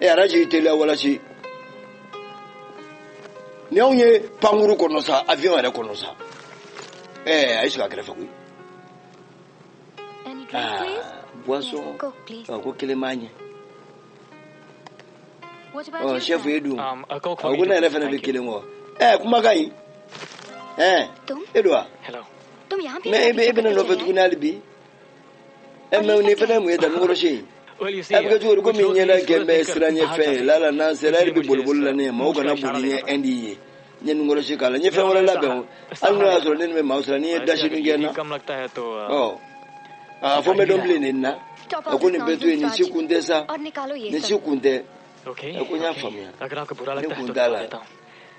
e araji teliya walasi ni anw ye pankurun kɔnɔ sa avion yɛrɛ kɔnɔ sa ɛɛ a y'i sigi a kɛrɛfɛ koyi boisson ko kelen b'a ɲɛ ɔ sɛfu ye dun a ko ne yɛrɛ fana bɛ kelen kɔ ɛɛ kumakan nin ɛɛ e don wa mɛ e bɛ ne nɔfɛ tuguni hali bi ɛ mɛ nin fana mun ye nunkɔrɔsi ye a bɛ kɛ cogo di komi n ɲɛda kɛlen bɛ siranɲɛfɛn ye lala n'an sera yɛrɛ bɛ boliboli la ne ye maaw kana boli n ɲɛ ɛndi yen n ye nunkɔrɔsi k'a la n ye fɛn wɛrɛ labɛn o hali n'o y'a sɔrɔ ne ɲɛ bɛ maaw siran n'i ye dasi min kɛ n na ɔ a fɔ n bɛ dɔn bilen nin na a ko nin bɛɛ to yen nin si kun tɛ sa nin si kun tɛ a ko n y'a faamuya ne kun t'a la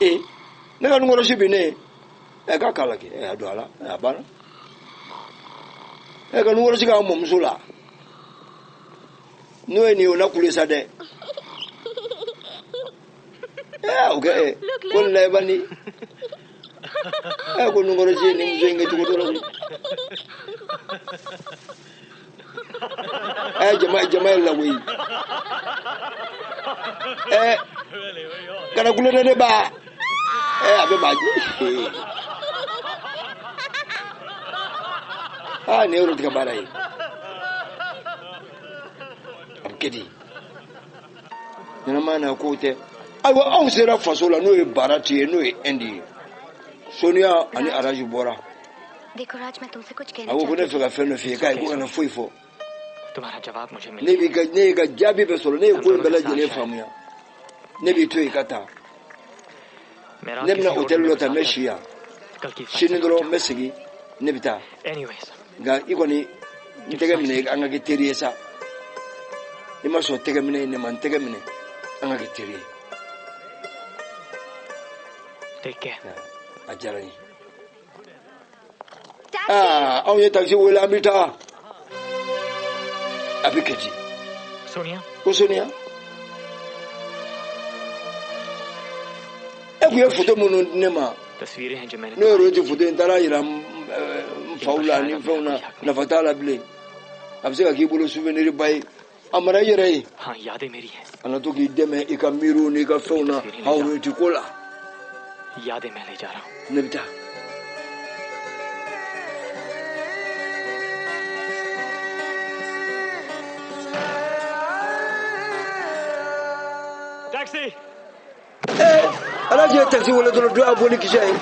ee ne ka nunkɔrɔsi bi ne ɛ k'a k'a la kɛ ɛ a don a la ɛ a banna ɛ ka nunkɔrɔsi k'a mɔmuso la n'o ye nin ye o la kule sa dɛ o kɛ ko lɛba ni ko nunkɔrɔsi ni muso in kɛ cogo dɔ la jama jama yɛlɛla koyi ɛɛ kana kulo dɛ ne ba ɛɛ a bɛ maa jɛ aa nin ye rohiti ka baara ye a bɛ kɛ di ɲɛnama na k'o tɛ ayiwa anw sera faso la n'o ye barati ye n'o ye ɛndi ye soniya ani araji bɔra a ko ko ne fɛ ka fɛn dɔ f'i ye k'ayi ko kana foyi fɔ ne b'i ka ne y'i ka jaabi bɛɛ sɔrɔ ne ye ko in bɛɛ lajɛlen faamuya ne b'i to yen ka taa ne bɛna hôtel dɔ ta n bɛ si yan sini dɔrɔn n bɛ segin ne bɛ taa nka i kɔni n tɛgɛ minɛ an ka kɛ teri ye sa i ma sɔn tɛgɛ minɛ ne ma n tɛgɛ minɛ an ka kɛ teri ye a diyara n ye aa anw ye takisi wele an bɛ taa a bɛ kɛ di ko soniya e tun ye foto minnu di ne ma ne yɛrɛ tɛ foto in taara yira n faw la ni fɛnw na nafa t'a la bilen a bɛ se ka k'i bolo souvenir ba ye a mara i yɛrɛ ye a na to k'i dɛmɛ i ka miiriw n'i ka fɛnw na rohiti ko la ne bɛ taa Taxi! alhaji ye takisi wele dɔrɔn dɔ y'a bon ni kisɛ ye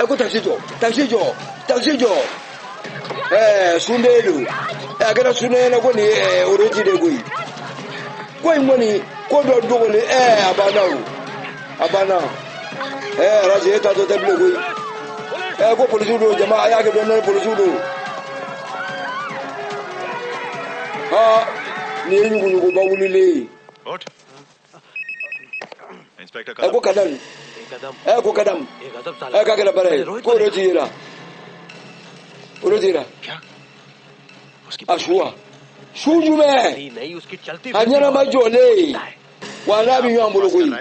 ɛ ko takisi jɔ takisi jɔ takisi jɔ ɛɛ su de don ɛ a kɛra su de ɲɛna ko nin ye ɛɛ araji de ye koyi ko in kɔni ko dɔ dogolen ɛɛ a banna o. a banna ɛ araji e ta tɔ tɛ bilen koyi ɛ ko polisiw don jama a y'a kɛ dɔɔni dɔɔni polisiw don aa nin ye ɲuguɲuguba wulilen ye ɛ ko kadam ɛ ko kadam ɛ k'a kɛra baara ye ko araji yera araji yera a su wa su jumɛn a ɲɛnama jɔlen wa n'a bɛ ɲɔgɔn bolo koyi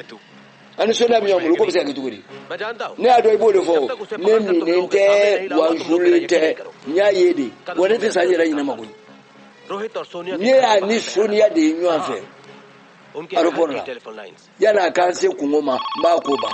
a ni soniya bɛ ɲɔgɔn bolo k'o bɛ se ka kɛ cogo di ne y'a dɔn i b'o de fɔ ne minnen tɛ wa n sulen tɛ n y'a ye de wa ne tɛ sa n yɛrɛ ɲinɛ ma koyi ne y'a ni soniya de ye ɲɔgɔn fɛ aéroport la yan'a ka n se kunko ma n b'a ko ban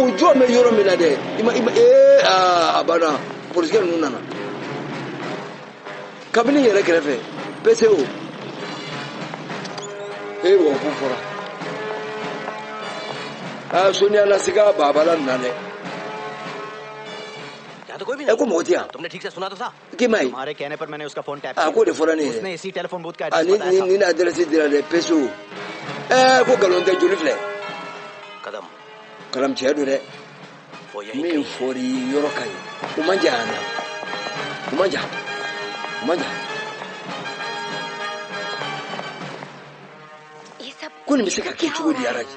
o jɔ bɛ yɔrɔ min na dɛ i ma i ma ee aa a banna polisikɛ ninnu nana kabini yɛrɛ kɛrɛfɛ pceo ee wa ko fɔra aa soniya lasika babala nana dɛ ɛ ko mɔgɔ tɛ yan k'i ma ye a k'o de fɔra ne ye a ni ni ni adirɛsi dira dɛ peso ɛɛ ko nkalon tɛ joli filɛ kadam tiɲɛ don dɛ min fɔra yɔrɔ ka ɲi o man jan yan na o man jan o man jan ko nin bɛ se ka kɛ cogo di araji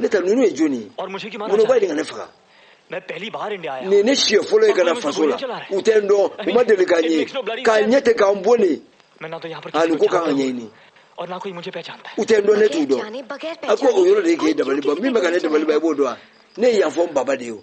ne ta ninnu ye jɔni ye minnu b'a ɲini ka ne faga nin ne siɲɛ fɔlɔ ye ka na faso la u tɛ n dɔn u ma deli ka n ye k'a ɲɛ tɛ ka n bon ne ani ko ka n ɲɛɲini u tɛ n dɔn ne t'u dɔn a ko o yɔrɔ de ye k'e dabali ban min bɛ ka ne dabali ban i b'o dɔn wa ne ye yan fɔ n baba de ye o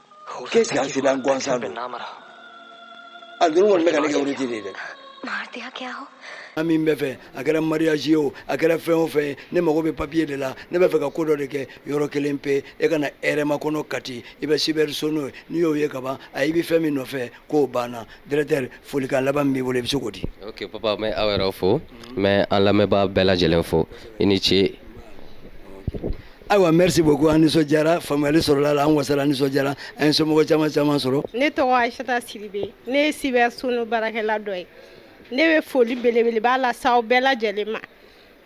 k'e sigi an seli an gansan don a dun kɔni bɛ ka ne kɛ wurudi de ye dɛ an min bɛ fɛ a kɛra mariage ye o a kɛra fɛn o fɛn ye ne mago bɛ papiye de la ne bɛ fɛ ka ko dɔ de kɛ yɔrɔ kelen pe e ka na hɛrɛmakɔnɔ kati i bɛ sibɛri sono ye n'i y'o ye ka ban a i bɛ fɛn min nɔfɛ k'o banna directeur folikan laban min b'i bolo i bɛ se k'o di ok papa n bɛ aw yɛrɛ fo n bɛ an lamɛnbaa bɛɛ lajɛlen fo i ni ce ayiwa merci beaucoup an nisɔndiyara faamuyali sɔrɔla la an wasara an nisɔndiyara an ye somɔgɔ caman caman sɔrɔ ne tɔgɔ ayisata siribe ne ye sibɛri sono baarakɛla dɔ ye ne bɛ foli belebeleba las'aw bɛɛ lajɛlen ma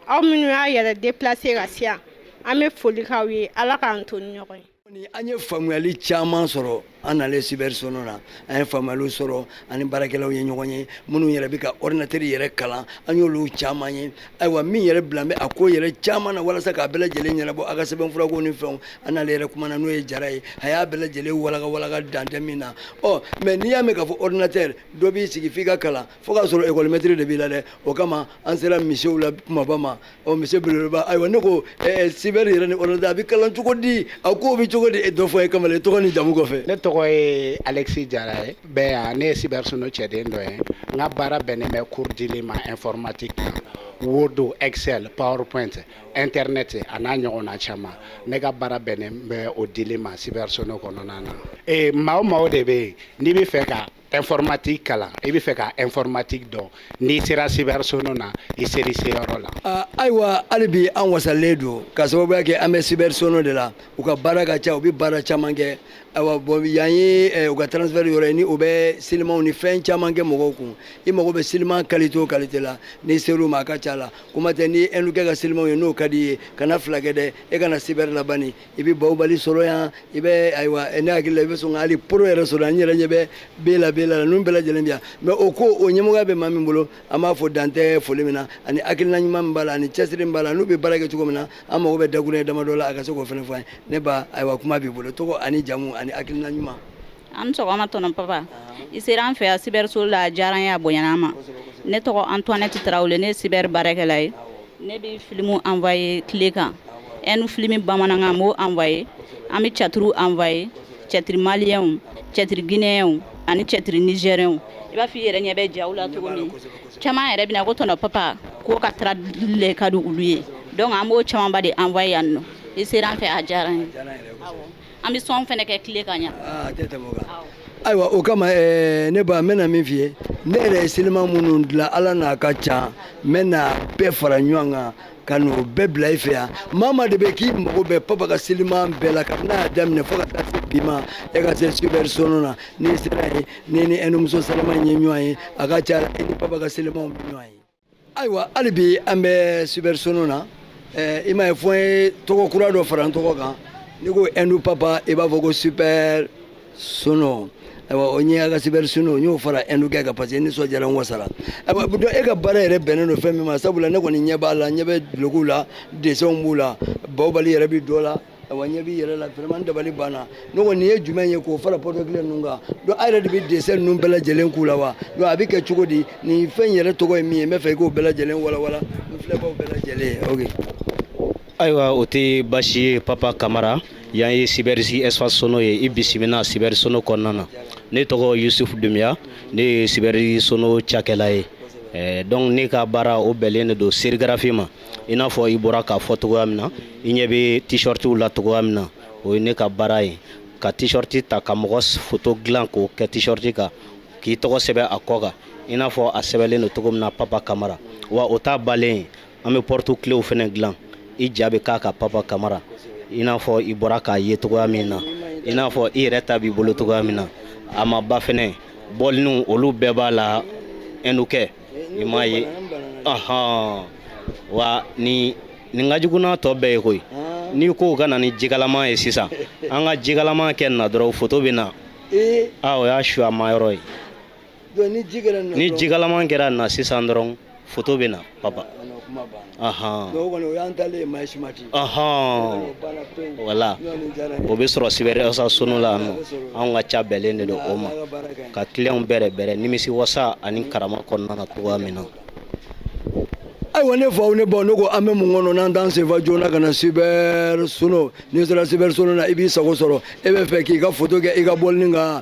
aw minnu y'a yɛrɛ déplacer ka se yan an bɛ foli k'aw ye ala k'an to ni ɲɔgɔn ye an ye faamuyali caman sɔrɔ an nalen sibɛri sono na an ye faamuyaliw sɔrɔ an ni baarakɛlaw ye ɲɔgɔn ye minnu yɛrɛ bɛ ka ɔrdinatɛri yɛrɛ kalan an y'olu caman ye ayiwa min yɛrɛ bilalen bɛ a ko yɛrɛ caman na walasa k'a bɛɛ lajɛlen ɲɛnabɔ a ka sɛbɛnfurako ni fɛnw an n'ale yɛrɛ kumana n'o ye jara ye a y'a bɛɛ lajɛlen walaka walaka dan tɛ min na ɔ mɛ n'i y'a mɛn k'a fɔ ɔrdinatɛri dɔ b'i sigi f'i ka kalan fo k'a sɔrɔ ekɔlimɛtiri de b'i la dɛ o kama an sera monsieur la kumaba ma ɔ monsieur belebeleba ayiwa ne ko ɛɛ sibɛri yɛrɛ ni ɔrdinatɛri bɛ kalan cogo di a ko bɛ cogo di e dɔ fɔ an ye kamalen tɔgɔ ni jamu kɔfɛ. ne tɔgɔ ye alexi jara ye n bɛ yan ne ye sibɛri sono cɛden dɔ ye n ka baara bɛnnen bɛ cours dili ma informatique word excel powerpoint internet a n'a ɲɔgɔnna caman ne ka baara bɛnnen bɛ o dili ma sibɛri sono kɔnɔna na. ee maa o maa o de bɛ yen n'i bɛ fɛ ka informatique kalan i bɛ fɛ ka informatique dɔn n'i sera cyber sono na i ser'i seyɔrɔ la. Ah, ayiwa hali bi an wasalen don ka sababuya kɛ an bɛ cyber sono de la u ka baara ka ca u bɛ baara caman kɛ ayiwa bɔn yan ye eh, u ka transfert yɔrɔ ye ni o bɛ silimanw ni fɛn caman kɛ mɔgɔw kun i mago bɛ siliman kalite o kalite la n'i ser'u ma a ka ca la kuma tɛ ni ɛndukɛ ka silimanw ye n'o ka d'i ye kana fila kɛ dɛ e ka na cyber la bani i bɛ bawubali sɔrɔ yan i bɛ ayiwa ne hakili la i bɛ sɔn ka hali poro yɛrɛ sɔrɔ yan n yɛrɛ ɲɛ bɛ bela bela la ninnu bɛɛ lajɛlen bɛ yan mɛ o ko o ɲɛmɔgɔya bɛ maa min bolo an b'a fo dan tɛ foli min na ani hakilina ɲuman min b'a la ani cɛsiri min b'a la an'u bɛ baara kɛ cogo min na an mago bɛ dakurunɲɛ damadɔ la a ka se k'o fana fɔ an ye ne ba ayiwa kuma b'i bolo tɔgɔ ani jamu ani hakilina ɲuman an ni sɔgɔma tonton papa i sera an fɛ yan cyber sono la a diyara n ye a bonyana an ma ne tɔgɔ Antoinette Tarawele ne ye cyber baarakɛla ye ne bɛ filimu envoyer clé kan ɛndu filimi bamanankan n b'o envoyer an bɛ cɛtiriw envoyer cɛtiri maliyɛnw cɛtiri gineyɛnw ani cɛtiri nizɛriyɛnw i b'a fɔ i yɛrɛ ɲɛ bɛ jaw la cogo min caman yɛrɛ bɛ na ko tonton papa ko ka taradili le ka di olu ye donc an b'o camanba de envoyer yan nɔ i sera an fɛ a diyara an ye an bɛ son fana kɛ clé kan yen ayiwa o kama eh, ne ba n bɛna min f'i ye ne yɛrɛ ye siliman minnu dilan ala n'a ka ca n bɛna bɛɛ fara ɲɔgɔn kan ka n'o bɛɛ bila i fɛ yan maa maa de bɛ k'i mago bɛ papa ka siliman bɛɛ la kabini a y'a daminɛ fo ka taa se bi ma e ka se cyber sono na n'i sera yen n'i ni ɛndumuso salama ye ɲɔgɔn ye a ka ca e ni papa ka silimanw bɛ ɲɔgɔn ye ayiwa hali bi an bɛ sibɛri sono na eh, i m'a ye fo n ye tɔgɔ kura dɔ fara n tɔgɔ kan n'i ko ɛndu papa i b'a fɔ ko sibɛri sono ayiwa o ɲɛ ka sibɛri sono n y'o fara ɛndukɛ kan parce que n nisɔndiyara n wasara ayiwa donc e ka baara yɛrɛ bɛnnen don fɛn min ma sabu la ne kɔni ɲɛ b'a la n ɲɛ bɛ dulokiw la desɛnw b'u la bawubali yɛrɛ bɛ dɔ la wa ɲɛ b'i yɛrɛ la vraiment n dabali banna ne ko nin ye jumɛn ye k'o fara porte-clé ninnu kan donc a yɛrɛ de bɛ dessin ninnu bɛɛ lajɛlen k'u la wa donc a bɛ kɛ cogo di nin fɛn in yɛrɛ tɔgɔ ye min ye n b'a fɛ i k'o bɛɛ lajɛlen walawala an filɛbaaw bɛɛ lajɛlen ye ayiwa o tɛ baasi ye papa kamara yan ye sibɛrisi espace sono ye i bisimila sibɛri sono kɔnɔna na ne tɔgɔ yusufu dumiya ne ye sibɛri sono cakɛla ye eh, donc ne ka baara o bɛnlen de don sérigraphie ma i n'a fɔ i bɔra k'a fɔ cogoya min na i ɲɛ bɛ t-shirtiw la cogoya min na o ye ne ka baara ye ka t-shirt ta ka mɔgɔ foto dilan k'o kɛ t-shirt kan k'i tɔgɔ sɛbɛn a kɔ kan i n'a fɔ a sɛbɛnlen don cogo min na papa kamara wa o t'a bannen ye an bɛ porte-cléw fɛnɛ dilan i ja bɛ k'a kan papa kamara i n'a fɔ i bɔra k'a ye cogoya min na i n'a fɔ i yɛrɛ ta b'i bolo cogoya min na a ma ban fɛnɛ bɔliniw olu bɛɛ b'a la hein donc i m'a ye ahan wa nin nin ka jugu n'a tɔ bɛɛ ye koyi n'i ko ka na ni jikalama ye sisan an ka jikalama kɛ nin na dɔrɔn foto bɛ na a o y'a subaama yɔrɔ ye ni jikalama kɛra nin na sisan dɔrɔn foto bɛ na papa voilà o bɛ sɔrɔ sibɛri espace sono la anw ka ca bɛnlen de don o ma ka tilen bɛrɛ bɛrɛ nimisi wasa ani karama kɔnɔna na tugun amiina ayiwa ne faw ne baw ne ko an bɛ mun kɔnɔ n'an t'an sen fa joona ka na sibɛri sono n'i sera sibɛri sono na i b'i sago sɔrɔ i b'a fɛ k'i ka foto kɛ i ka bɔlini kan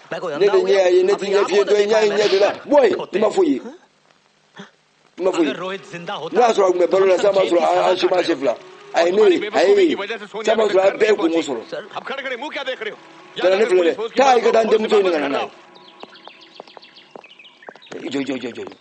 ne bɛ ɲɛ y'a ye ne tɛ ɲɛ fiye dɔ ye ɲɛ ye ɲɛ de la bɔ yen i ma fɔ ye i ma fɔ ye ne y'a sɔrɔ a tun bɛ balo la sisan b'a sɔrɔ an si ma se fila a ye ne ye a ye ne ye sisan b'a sɔrɔ a bɛɛ ye kungo sɔrɔ kana ne filɛ dɛ taa i ka taa n denmuso ɲini ka na n'a ye jɔ jɔ jɔ jɔ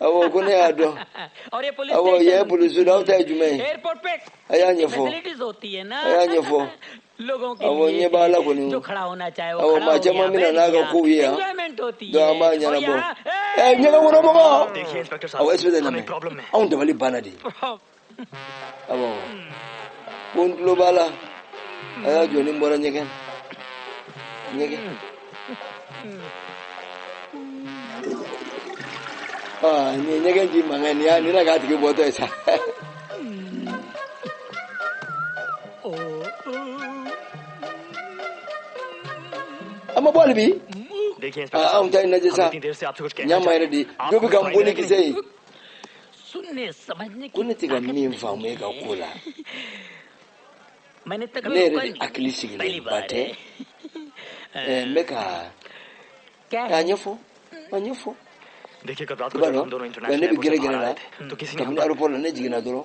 aw ko ne y'a dɔn aw ye polisi aw ta ye jumɛn ye a y'a ɲɛfɔ a y'a ɲɛfɔ aw ɲɛ b'a la kɔni aw maa caman bɛna n'a ka kow ye yan dɔw an b'a ɲɛnabɔ ɛ ɲɛgɛnkɔnɔmɔgɔ aw ye sɛbɛn anw dabali banna dɛ awɔ ko n tulo b'a la a y'a jɔ ni n bɔra ɲɛgɛn ɲɛgɛn aa nin ye ɲɛgɛn ji mankan ye nin y'a nin na k'a tigi bɔtɔ ye sa. an ma bɔ hali bi anw ta ye lajɛ sa ɲa ma yɛrɛ de dɔ bɛ ka n bɔ ni kisɛ ye ko ne tɛ ka min faamu e ka ko la ne yɛrɛ de hakili sigilenba tɛ n bɛ kan k'a ɲɛfɔ a ɲɛfɔ i b'a dɔn ne bɛ gɛrɛ gɛrɛ la kabini aéroport la ne jiginna dɔrɔn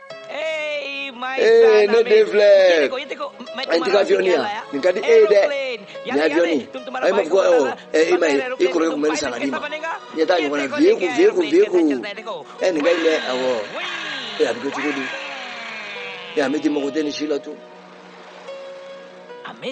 ee ne den filɛ n tɛ ka avion ye yan nin ka di e ye dɛ nin avion nin a ye ma fɔ ko awɔ ɛ i ma ye i kɔrɔkɛ tun bɛ nin san ka d'i ma ɲɛ t'a ɲɔgɔn na vieux kun vieux kun vieux kun ɛ nin ka ɲi dɛ awɔ ee a bɛ kɛ cogo di ee a bɛ di mago tɛ nin si la tun.